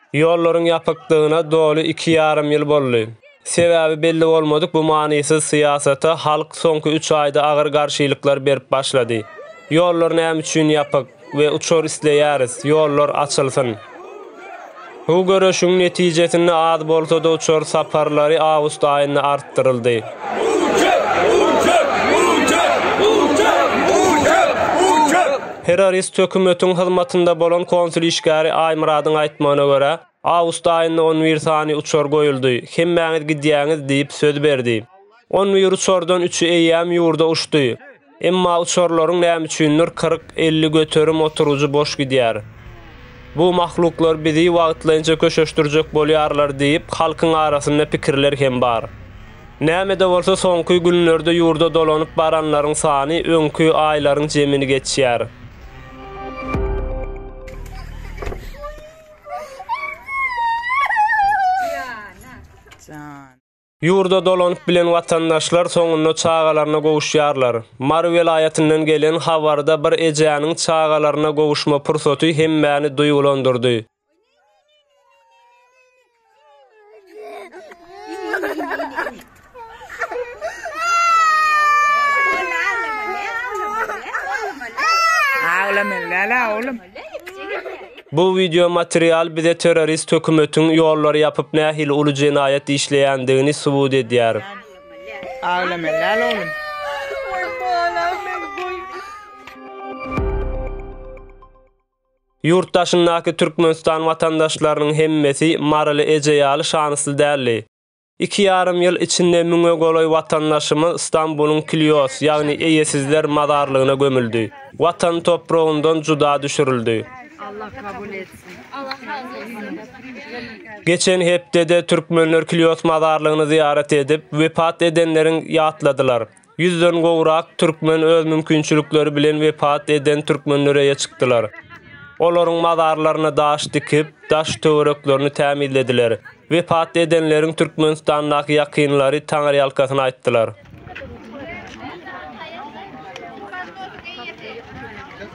Ýollaryň ýapykdygyna doly iki ýarym ýyl boldy. Sebäbi belli bolmadyk bu manysyz syýasata halk soňky üç aýda agyr garşylyklar berip başlady. Ýollar näme üçin ýapyk? we uçar isleýäris, ýollar açylsyn. Bu göreşiň netijesinde az bolsa-da uçar saparlary awgust aýynda artdyryldy. Terrorist hökümetiň hyzmatynda bolan konsul işgäri Aýmyradyň aýtmagyna görä, awgust aýynda on bir sany uçar goýuldy, hemmäňiz gidýäňiz diýip söz berdi. On bir uçardan üçi eýýäm ýurda uçdy. Emma uçarlaryň nämüçindir kyrk-elli göterim oturgyjy boş gidýär. Bu mahluklar bizi wagtlaýynça köşeşdirjek bolýarlar diýip, halkyň arasynda pikirler hem bar. Näme-de bolsa soňky günlerde ýurda dolanyp baranlaryň sany öňki aýlaryň jemini geçýär. Ýurda dolanyp bilen watandaşlar soňunda çagalaryna gowuşýarlar. Mary welaýatyndan gelen habarda bir ejäniň çagalaryna gowuşma pursaty hemmäni duýgulandyrdy. Bu wideo material bize terrorist hökümetiň ýollary ýapyp nähili uly jenaýat işleýändigini subut edýär. Aglama lal oglum. Ýurt daşyndaky Türkmenistan watandaşlarynyň hemmesi Maryly eje ýaly şanysly däldi. Iki ýarym ýyl içinde müňe golaý watandaşymyz Stambulyň Kilios, ýagny eýesizler mazarlygyna gömüldi. Watan topragyndan juda düşürildi. Geçen hepdede türkmenler Kilios mazarlygyny zyýarat edip, wepat edenleriň ýatladylar. Ýüzden gowrak türkmen öz mümkinçilikleri bilen wepat eden türkmenlere eýe çykdylar. Olaryň mazarlaryna daş dikip, daş-töwereklerini tämizlediler. Wepat edenleriň Türkmenistandaky ýakynlary taňyrýalkasyny aýtdylar.